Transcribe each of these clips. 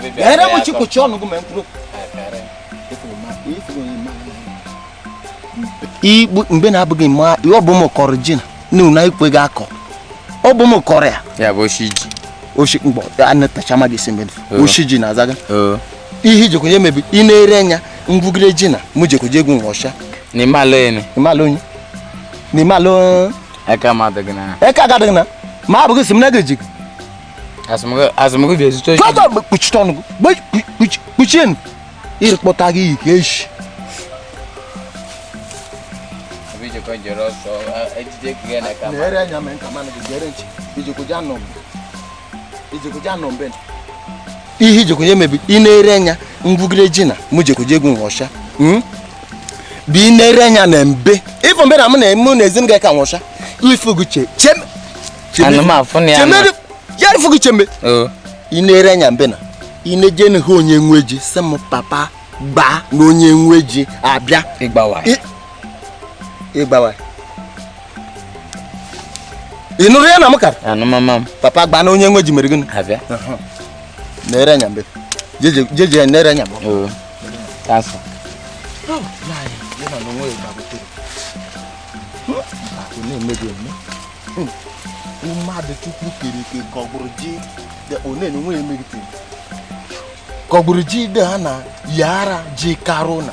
gịnị igbu mgbe na-abụghị ma ọ bụ m kọrọ ji na na ikwe gị akọ ọ bụ m kọrọ ya ya bụ oshi ji oshi mgbọ anatacha mmadụ isi mmadụ oshi ji na azaga ihe i jekoje eme bụ ị na-ere anya ngwugide ji na mụ jekoje egwu nwa ọcha n'ime ala onye n'ime ala aka m adịghị na aka gị adịghị na ma abụghị si m na gị ejighị azụmgị bịa ezute oji kọta mgbe kpuchite ọnụ gị kpuchie nụ iri kpọta gị iyi ka echi na-ere anya mee nka mana gị gere nchi ijekwuja nọ mbe ijekwuja nọ mbe ihe i jekoje eme bụ ị na-ere anya ngwugide ji na mụ jekoje egwu nwọcha hmm? bụ ị na-ere anya na mbe ị fụ mbe na mụ na-eme na ezi m ga-eka nwọcha ifuguche cheme ya ifuguche mbe ị na-ere anya mbe na ị na-eje na ha onye nwe ji sị m papa gbaa na onye nwe ji abịa ị gbawa ị gbawa ị nụrụ ya na m kara anụmama m papa gbaa na onye nwe ji mere gịnị abịa na-ere anya mbe jeje ya na-ere anya mbe oo kansa mmadụ chukwu kere ike ka ọ gbụrụ ji dị- ọ na-enye onwe ya emegitere ka ọ gbụrụ ji dị ha na yara ji karụ na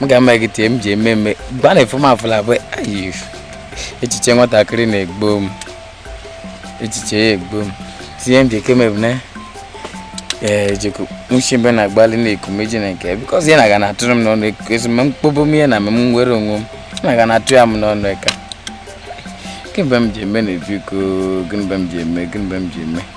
m ga-ama gị tie m ji eme eme gwa na efum afụla bụ echiche nwatakịrị na-egbo m echiche ya egbo m tinye m ji eke m ebune ee jeko nwuchi mbe na-agbalị na-eku meji na nke bikọz ya na-aga na-atụrụ m n'ọnụ ezi ma mkpobo m ihe na m nwere onwe m na-aga na-atụ ya m n'ọnụ eka gịnị mgbe m ji eme na ebiko gịnị mgbe m ji eme gịnị mgbe m ji eme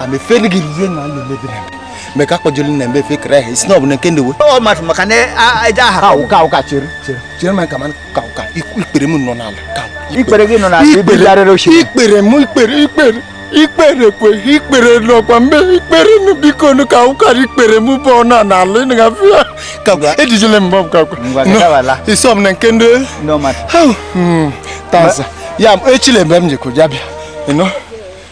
amefere gị ihe na alụ mebiri eme mgbe ka akpọjolu na mbe fekere ahụ isi na ọ bụ na nke ndewe ọ mmadụ maka na eje aha ka ụka ụka chere chere chere ma kama ka ụka ikpere m nọ n'ala ka ikpere gị nọ n'ala ibe darịrị oshi ikpere m ikpere ikpere ikpere kwe ikpere n'ọkwa mbe ikpere nụ biko nụ ka ụkara ikpere m bụ ọ na n'ala ị na-afụ ya ka ejijele m bọm ka kwa isi ọ bụ na nke ndị hmm, tanza ya echile mgbe m jekwa ya bịa ịnụ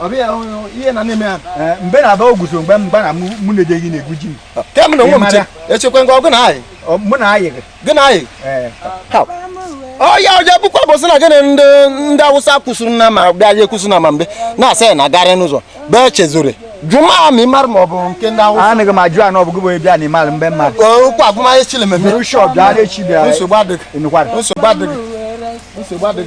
ọbịa ihe na na-eme ya eh, mgbe na-aba ogwuso mgbe mgba na mụ na-ejeghị na-egwu ji m kemgbe na onwe m che echekwa ngwa ọgụ na anyị mụ na anyị gị na anyị eh. ọya ọja bụkwa bụsị na gịnị ndị ndị awụsa kwụsịrị na ma bịa ya ekwụsị na ma mgbe na-asa ya na garị n'ụzọ bee chezore jụma m ịmara ma ọ bụ nke ndị awụsa anaghị m ajụ anụ ọbụgụ bụ bịa na ịmara mgbe mmadụ okwu agụmahịa chile mmemme nsogbu adịghị nsogbu adịghị nsogbu adịghị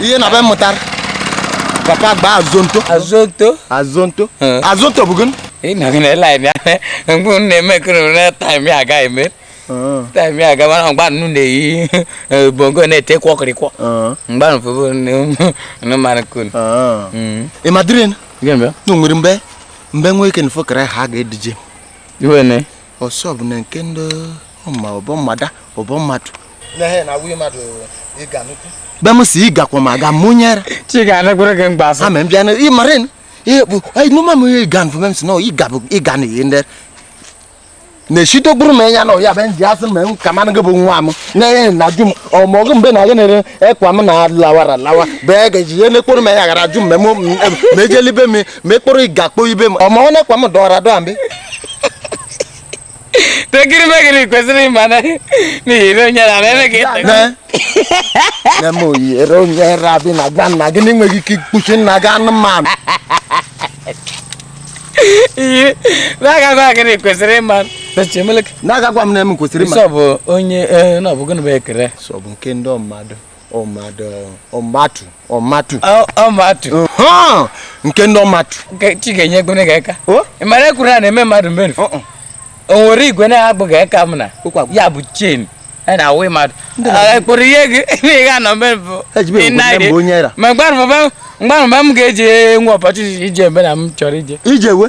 ihe na be mụtara papa gba azonto azonto azonto azonto bụ gịnị ị nọghị na-ele anyị anya mgbe m na-eme ekere na time ya aga eme time ya aga mana mgbe unu na-eyi bongo na-ete kwọkịrịkwọ mgbe nfụbụ mmanụ kun ị madịrị na nwere mgbe mgbe nwa ike na fokere ha ga-edije iwe ne ọsọ bụ na nke ndị ọma ọ bụ mmadụ ọ bụ mmadụ be m si ị gakwa ma ga mụnyere ama m bịa ị mara ihe bụ nụma m ihe ịga nfụ m si na ịga bụ ịga na ihe ndị na-echite gburu m anya na ọ ya bụ ndị asị ma ka mmanụ gị bụ nwa m na-enye na-ajụ m ọmọgụ mgbe na gị na-ere ekwa m na lawara lawa bụ ya ga-eji ihe na-ekporo m anya ghara ịjụ m ma ejelibe m mekpụrụ ị ga-akpọ ibe m ọma onye kwa m dọwara dọa mbe tekiri megiri kwesịrị ịma na n'ihi na onye na-eme ka ịta na m oyere onye rabi na-agwa nna gị na enweghị ike ikpuchi nna gị anụmanụ ihe na a ga-agwa gị na i kwesịrị ịma na a ga-agwa m na m kwesịrị ịma sọ bụ onye na ọ bụ gịnị bụ ekele sọ bụ nke ndị mmadụ ọmatụ ọmatụ ọmatụ Ọ- ọ ma atụ Ha! nke ndị ọmatụ Nke chi ga-enye ego na ga-eka O? ị mara ekwuru a na-eme mmadụ mmerụ Uh-uh. o nwere igwe na-abụ ga-eka m na Ụkwa bụ- ya bụ chen a na-awụ mmadụ Ọ kpụrụ ihe gị ihe ga nọ ebe bụ Ejibe m kwuru na mbụ onye era. ma mgbarụba mgbarụba m ga-eji nwe ọpọchịchị ije ebe na m chọrọ ije ije we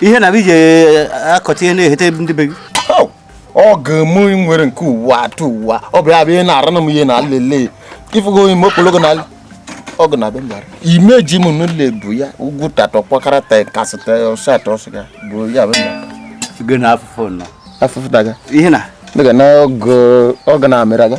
ihe na iji eh, akọta ihe na-ehete ndị be gị oh, ọ ga-eme nwere nke ụwa atụ ụwa ọ bụ ya bụ ihe na-ara na m ihe na-elele ifugo onye m okpologo na ọ ga na-abịa mbara ime ji m n'ụlọ ebu ya ugwu tatọ kpakara ta kasị ta ọsọ atọ ọsọ ya bụ ya bụ mbara na afụfụ nọ afụfụ daga ihe na ọ ga na-amịra ga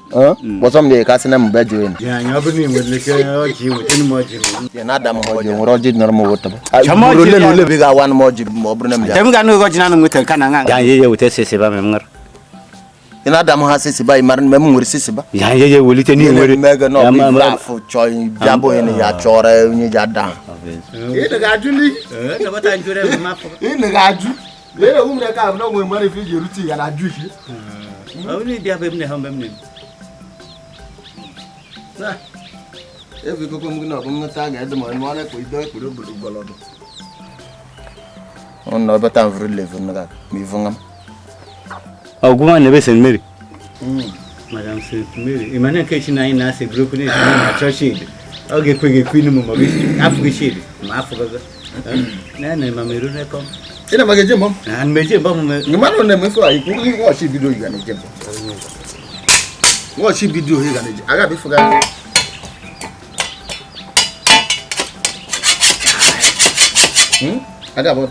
kpọsọ m na-eke asị na mbe jụ enu na-ada m ha ọjị nwere ọjị nọrọ m wetaba ole na ole bụ ị ga-awa m ọjị ma ọ bụrụ na m bịa ị na-ada m ha sisiba ị mara na m nwere sisiba mega na ọ bụ ife afụ chọọ bịa bụ onye na ya chọrọ onye ji ada ha Mere ụmụ na-eke abụ na onwe mmadụ ife iji erute ya na juu ihe. Onye ịdị abụ emne ha mgbe m na-eme. Efu ikokwe m gị na ọgụ mmeta a ga-ede ma ọnụ ọlekwa ido ekpere obodo gbọlọdụ. Ọ na ọ bata m vuru levu na-aga ma ivu ngam. Ọgwụ nwa n'ebe St. Mary. Hmm, Madam St. Mary, ị ma na nke chi na anyị na-asị bụrụ okwu na-esi na achọ shed ọ ga-ekwe gị ekwe inu m maọbụ afụghị shed ma afụgaga na-ana ma meru rekọ ị na maga eje mbọ na mmeje mbọ m ị mara na emefe a ikwu ihe wọchị bido ị ga na-eje mbọ wọchị bido ị ga na-eje aga bifụga aga bọ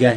gaa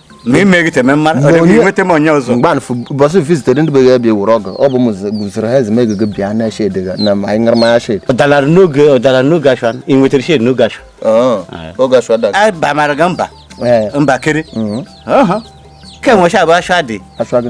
ma ị meghị teme mmadụ ọ dịghị nweta m onye ọzọ mgbe anfụ mbọsụ vizitere ndị beghị bịa wụrụ ọgụ ọ bụ m guzoro ha ezi megego bịa na shed na ma anyị ṅara mmanya shed ọ dalara n'oge ọ dalara n'oge ashwa ị nwetara shed n'oge ashwa oge ashwa dara a bamara gị mba mba kiri ka enwecha abụ ashwa dị ashwa gị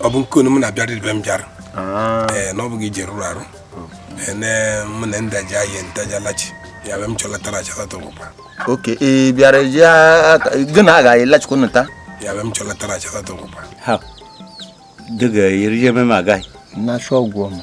ọ bụ nke onu m na-abịara ibe m bịara ah. ee na ọ bụghị ị je rụrụ arụ mụ na ndị ji ahịa ntajalachi ya be m chọlatara achalata ụkwa oke ị bịara ji gị na agaghị lachikwa nụta ya be m chọlatara achalata ụkwa ha dịga eri ememe agaghị na-achọ ọgwụ ọma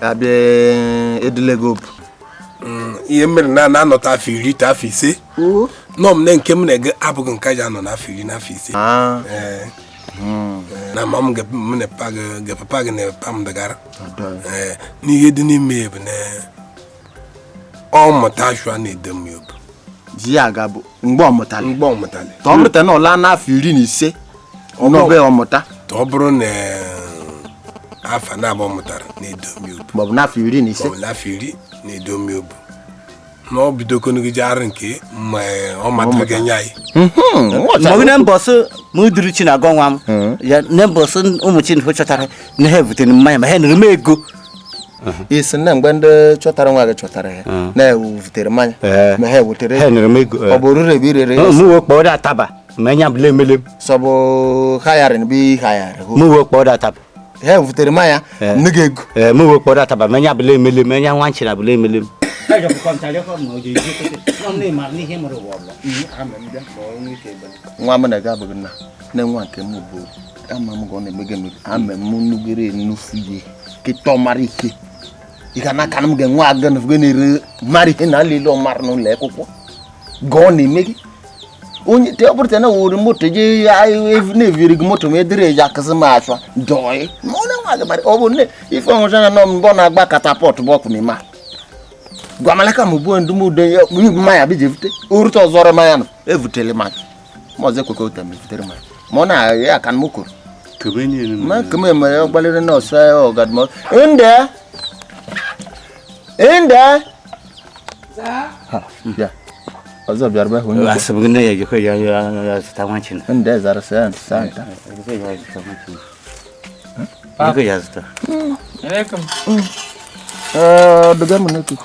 a bịa edule gị obi, ihe mere na a nọta afọ iri ta afọ ise nọ m na nke m na-eje abụghị nke e ji anọ n'afọ iri na afọ ise ah. eh. hmm. eh, na mama gị papa gị na papa m dagara eh, na ihe dị n'ime ya bụ na ọ mụta ashwa na-edu m ya obi ji ya aga bụ mgbe ọ mụtara mgbe ọ mụtara ka ọ mụta na ọ laa n'afọ iri na ise n'ọbe ọ mụta ka ọ bụrụ na afa na-abụ ọ mụtara na-edu m ya obi maọbụ n'afọ iri na ise ọ bụ n'afọ iri na-edu m ya obi na ọ bidokonugide arụ nke ma ọ matara ga-enye anyị mgbe na mbọsụ ma uduru chi na-agọ nwa m ya na mbọsụ ụmụ chi na chọtara na ha ebutere mmanya ma ha nụrụ m ego ị sị na mgbe ndị chọtara nwa gị chọtara ya na-evutere mmanya ma ha evutere ọ bụ orure ebe irere mụwe kpọọ dị ataba ma enya bụla emele m sọbụ hayarin bụ ihayarị mụwe kpọọ dị ataba ha evutere mmanya nye gị ego mụwe kpọọ dị ataba ma enya bụla emele m enya nwa nchịra bụla emele m nwa m na-aga abụghị nna nne nwa nke m bụ ama m ka ọ na-emega emega ama m nugere enufu ihe kịta ọ mara ike ị ga na-aka m ga-enwe aga nufge na-ere mara ihe na alele ọ mara n'ụlọ akwụkwọ ga ọ na-eme gị onye te ọ bụrụ na were moto je na-eviri gị moto ma e dịrị eji akụzi m achọ dọị ma ọ na-enwe aga mara ọ bụ nne ife ọnwụcha na nọ mbọ na-agba katapọt bụ ọkụ n'ime ahụ gwamalaka m bụ ndụmọdụ ya mma ya bụ ji evute orute ọzọrọ mmanya nọ evutele mmanya ma ọzọ ekwekọ ụta mefutere ma ma ọ na-agha aka m kwuru ma nke m emere gbalịrị nọọsụ ahụ ọ ga-adị mma ndị ndị ọzọ bịara bụ onye asị m nne ya ejikọ ya ya zụta nwa china ndị zara sị ya ntụsa nta ego ya zụta ọ dụga m n'ekuku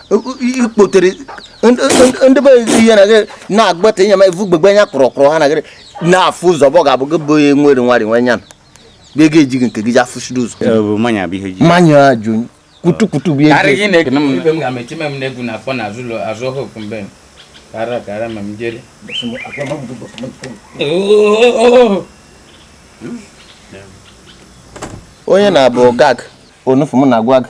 ikpotere ndị be ihe na gị na-agbata ịnya ma ivu gbegbe anya kpọrọ kpọrọ ha na gịrị na-afụ ụzọ bụ ga-abụ gị bụ onye nwere nwari nwe nya bịa ga ejighị nke gị ji afụchiri ụzọ mmanya ajụ kutukutu bụ ihe kara kara ma m jere onye na-abụ gag onufu m na-agwa gị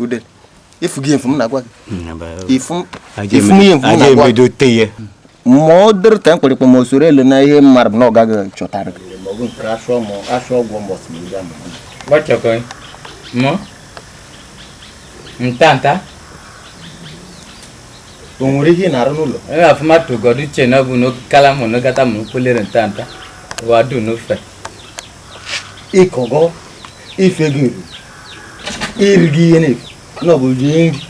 ude ifu gị efu m na-agwa gị ifu m ihe efu m na-agwa gị ma ọ dịrị ka mkpịrịkpa ma o soro elu na ihe m maara bụ na ọ gaghị chọtara gị ntanta o nwere ihe ị na-arụ n'ụlọ e ga afụma tụgọdụ uche na ọ bụ n'okala mụ n'ogata mụ kwelere ntanta wadu n'ofe ịkọgọ ife gị eri iri gị ihe na-efu na ọ bụ rie nri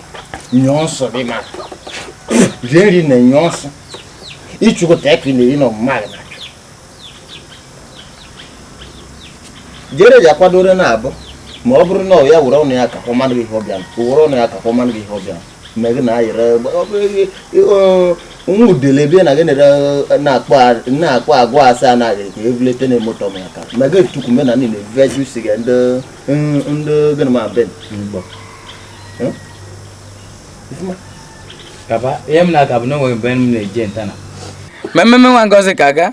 nyụọ nsị dị ma rie nri na nyụọ nsị ịchụkọta ka ị na-eri na ọmụma gị na jere ji akwadoro na abụ ma ọ bụrụ na ọ ya were ọnụ ya ka ọ manụ gị ihe ọ bịa were ọnụ ya ka ọ manụ gị ihe ọ bịa na gị na-ayịrị nwa udele bịa na gị na-akpọ agwa asa anaghị ka ebulete na moto m aka ma gị tukwu me na ndị na-ebibe ju si gị ndị gịnị ma be kaba ihe m na-aka bụ na o nweghị mgbe m na-eje ntana mmemme nwa ngozika aga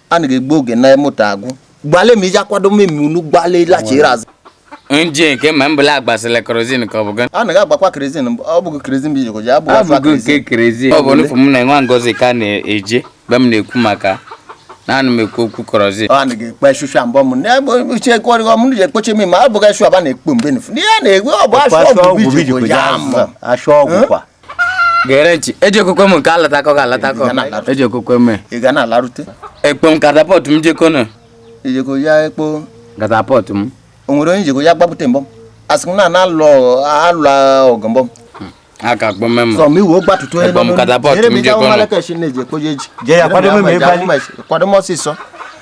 a na egbu oge na moto agwụ gbale ma iji akwado mmemme unu gbale lachiri azụ nje nke ma mbụla agbasịla kerozin ka ọ bụ gị a na agbakwa kerozin ọ bụghị kerozin bụ ijikọ ji abụ afọ nke kerozin ọ bụ n'ụfụ m na nwa ngozika na-eje mgbe m na-ekwu maka naanị m ekwu okwu kerozin ọ na ekpe shusha mbọ m na-egbe uche kwarịghọ m ji ekpoche m ma abụghị shu aba na-ekpo mgbe nfu ihe na-egwe ọ bụ ashọ ọgwụ bụ ijikọ ji ama ashọ ọgwụ kwa gere ntị eji okwukwe m nke alatakọ ga alatakọ eji okwukwe m ị ga na-alarute ekpo m catapult m jeko na ejeko ya ekpo catapult m o nwere onye jeko ya gbapụta mbọ asị m na na alụ alụ ọgụ mbọ aka kpọ m sọ m iwu gbatụtụ onye nọ n'olu catapult m jeko na kwado m ọsịsọ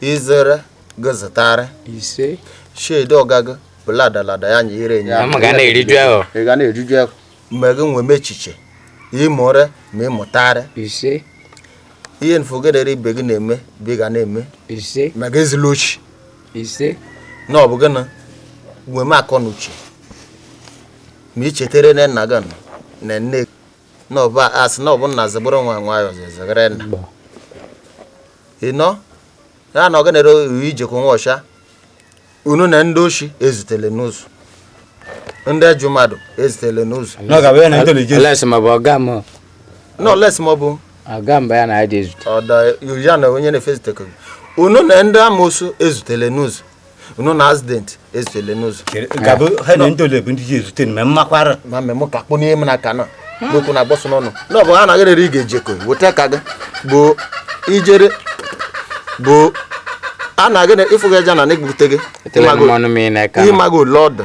izere gozitare ise shedi ọgago bụladalada ya nye ire nye ya ga na-eriju ahọ ị ga na-eriju ahọ mgbe gị nwee m echiche ịmụre ma ịmụtarị ise ihe nfogedere ibe gị na-eme bụ ị ga na-eme ise ma gị ezila ochi ise na ọ bụ gị na nwee m akọ na uche ma ị chetere na nna gị nọ na nne na ọba asị na ọ bụ nna zebụrụ nwa nwayọọ zezegere nna ị nọ ya na ọganere ijekọ nwa ọcha unu na ndị oshi ezutele n'ụzọ ndị ajọ mmadụ ezutele n'ụzọ nọles ma ọ bụ ya na onye na-efe ezutekọ unu na ndị amoosu ezutele n'ụzọ unu na accident ezutele n'ụzọ gabụ ha na ndị ole bụ ndị ji ezute ma mmakwara ma mmemme ka kpụ n'ihe m na aka na n'okwu na agbọsọ n'ọnụ na ọ bụ ha anaghị rere ị ga-eji eko weta ka gị bụ ijere bụ a na-agị na ịfụghị aja na na-egbute gị Etele m mmanụ m ị na-aka na. ịmago lọdụ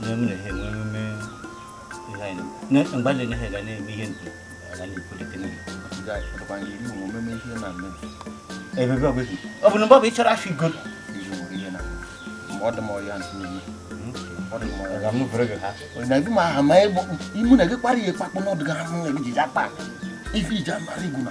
na m na-ehe enwe emume ihe anyị na mgbe anyị na-ehe ga na-eme ihe ndu aga na-ekwulite n'ihe ebe ebe ọ bụ ọ bụ na mgbe ọ bụ ịchọrọ afọ igo imu na gị kpara ihe kpakpụ n'ọdụ gị ahụ na gị ji akpa ife iji amara igwu na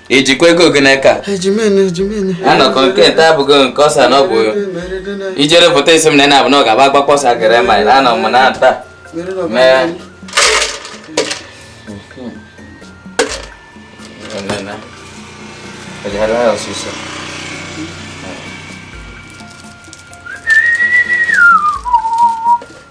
i jikwa ego gị n'aka anọkọ nke nta abụghị nke ọsa na ọ bụ ijere foto isi m na na-abụ na ọ ga-agba agbakpọ ọsa gere ma na anọ m na nta mee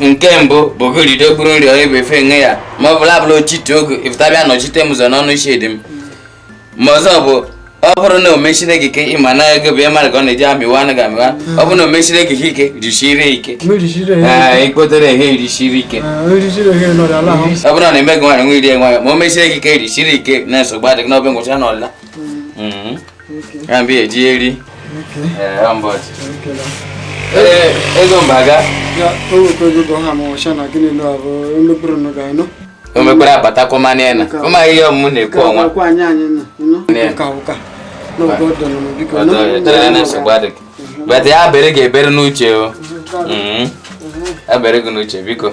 nke mbụ bụ gorido okpuru nri onye bụ efe nwe ya ma ọ bụla abụla ochite oge ịfụtabịa nọchite m ụzọ n'ọnụ isi dị m ma ọzọ bụ ọ bụrụ na o meshire gị ike ị ma na ego bụ mmadụ ka ọ na-eji amịwa anaghị amịwa ọ bụrụ na o meshire gị ike risiri ike ikpotere ehe risiri ike ọ bụrụ na eme gị nwaanyị nwe iri nwaanyị ma o meshire gị ike risiri ike na nsogbu adịghị n'obe ngwụcha n'ọla ya mbe eji eri ego mbaga o mekwara abatakwa mmanụ ya na ụmụghị ihe ọmụmụ na-ekwu ọnwa bata ya bere ga-ebere n'uche o ya bere gị n'uche biko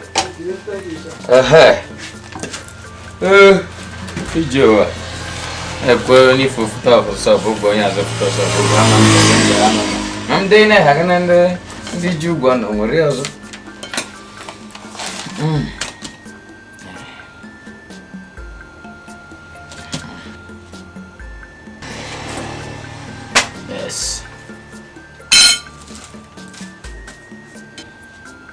ije ụwa ekwe onye ife ofuta ọfụsọ bụ ụgwọ onye azọpụta ọsọ bụ ụgwọ ama m ndị ama m ma ndị na-eha gị na ndị ndị ji ụgwọ na o nwere ọzọ Yes.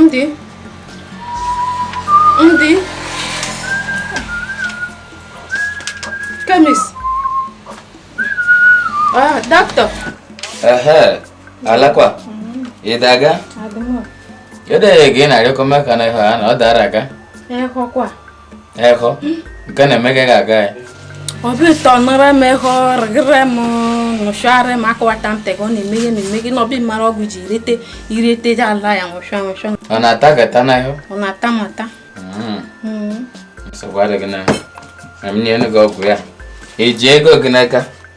ndị ndị chemist ah, dọkịta alakwa ị daga edeghị gị na record maka na ịhụ ya na ọ dara aga Eho, nke na-eme gị ga-aga ya. Obi ụtọ nara m eho rịgịrị m nụchụarị m akọwata m tega ọ na-eme ihe na-eme gị n'obi mara ọgwụ ji irete irete ji ala ya nwụchụa nwụchụa. Ọ na-ata gị ata n'ahụ? Ọ na-ata m ata. Hmm. Hmm. Nsogbu adịghị na ya. Ma m nye gị ọgwụ ya. I ji ego gị n'aka.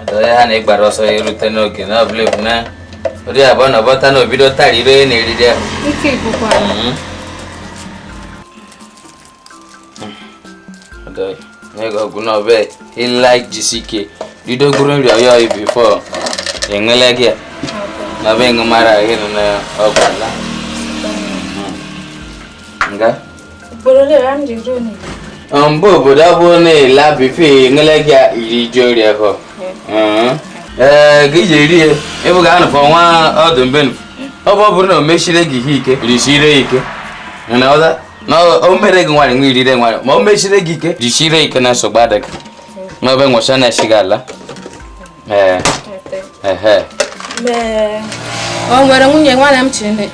ọdọdọ ha na ịgbara ọsọ ya erute n'oge na ọbụla ebu na ori abụọ na ọbọta na o bido tara ire na eriri ya ọdọ egwu na ọbịa ịlaik jisi ike bido gwuru nri ọya ọyị before enwele gị na ọbịa ịṅụ mara gị nọ n'ọgwụ ala nga mgbe obodo ọ bụla before enwele gị iri ji ori ahụ ee gị ji eri ya ịbụ ga anụfọ nwa ọdụ mbe ọ bụ ọ bụrụ na o mechire gị ihe ike risire ike na ọda na o mere gị nwayọ nwa irire nwayọ ma o mechire gị ike jichire ike na nsogbu adịghị n'obi nwụcha na-esi gị ala ee ehe o nwere nwunye nwaanyị m chiri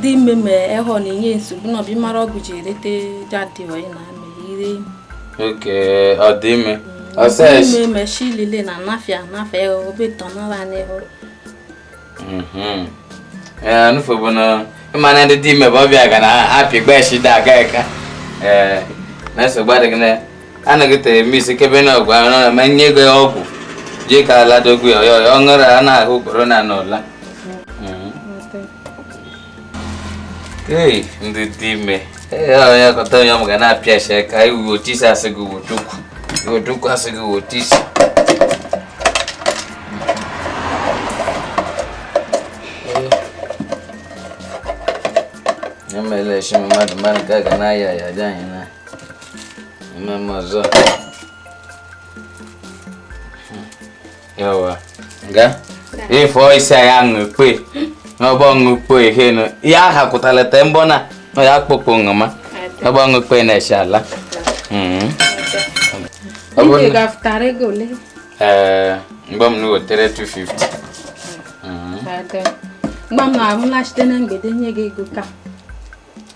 dị ime ma ịhụ na-enye nsogbu n'obi mara ọgwụ ji erete dadị onye na amị ire oke ọ dị ime ọsọ ime meshilile na anafịa anafịa obetọ nara n'ihu Mhm. Eh, ife bụ na ị ma na ndị dị ime bụ obi ga na-apị gba echi da aga eka ee na nsogbu adịghị na anaghị tere eme isi kebe na ọgwụ ahụ na ma nye ego ya ọgwụ jee ka ala dogwu ya ọyọ ọ ṅụrụ a na-ahụ ugboro na n'ụla Hey, ndị dị ime ya kọta ya m ga na-apịa isi ka anyị wuo otu isi a sị gị wuo Chukwu wuo chukwu a sị gị wuo otu isi emela esi mmadụ mmadụ ka a ga na-aya ya dị anyị na mmemme ọzọ yawa ga ifo isi ya ngpe na ọgbọ ngpe ihe no ya ha kụtara te mbọ na na ya kpokpo ngama ọgbọ ngpe na esi ala mm ọ bụ Ndị ga-afụtara ego ole? eh mgbe m na wetere 250 mm Ada. Mgbe m na-arụla site na mgbede nye gị ego ka.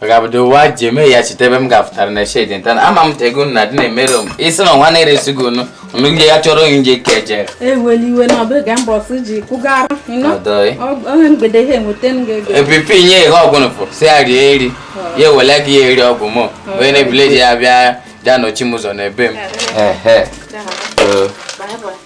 ọ ga-abụdo ụwa ji eme ya cheta ebe m ga-afụtara na shedi nta na ama m tego na dị na-emere m isi na ọnwa na-eresi gị unu unu ndị ya chọrọ onye nje ka eje eweli iwe na ọbụ ga mbọsị ji kwụgara ịnọ ọdọị onye mgbede ihe enweta m ga-ego epipi nye ihe ọgwụ nụfụ si ya rie eri ya ewele gị ya eri ọgwụ mụ onye na-ebule ji ya bịa bịa nọchi m ụzọ na ebe m Ehe. Bye bye.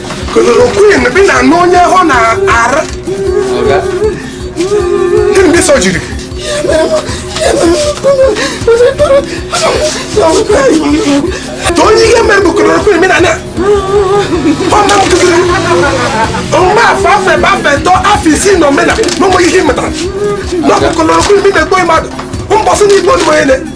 chloroquine bi na n'onye ọ na-ara gịnị ndị so jiri to onye ihe mere bụ chloroquine bi na na ọma m kụziri mgbe afọ afọ ebe afọ eto afọ isii na omena na ụmụ ihe ị mụtara na ọ bụ chloroquine bi na-egbu mmadụ mbọsị na igbo onye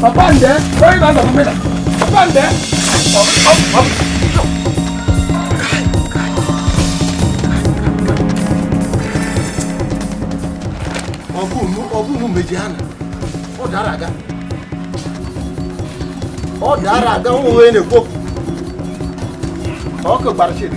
Papa nde, onye na-azọ mmiri. Papa nde. Ọ bụ unu meji ha na ọ dara aga. Ọ dara aga nwa onye na-ekwu okwu. Ọkụ gbara chiri.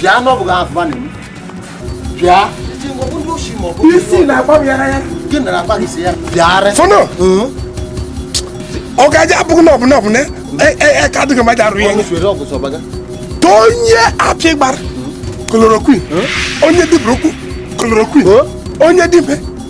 bịa n'ọbụghị afụba na bịa isi na-agba m ya ya gị na akpa gị si ya bịara fọnọ ọ ga-aja abụghị na ọbụla ọbụla ka adịghị mmadụ arụ ya to onye apị gbara chloroquine onye dibụrụ okwu chloroquine onye dibe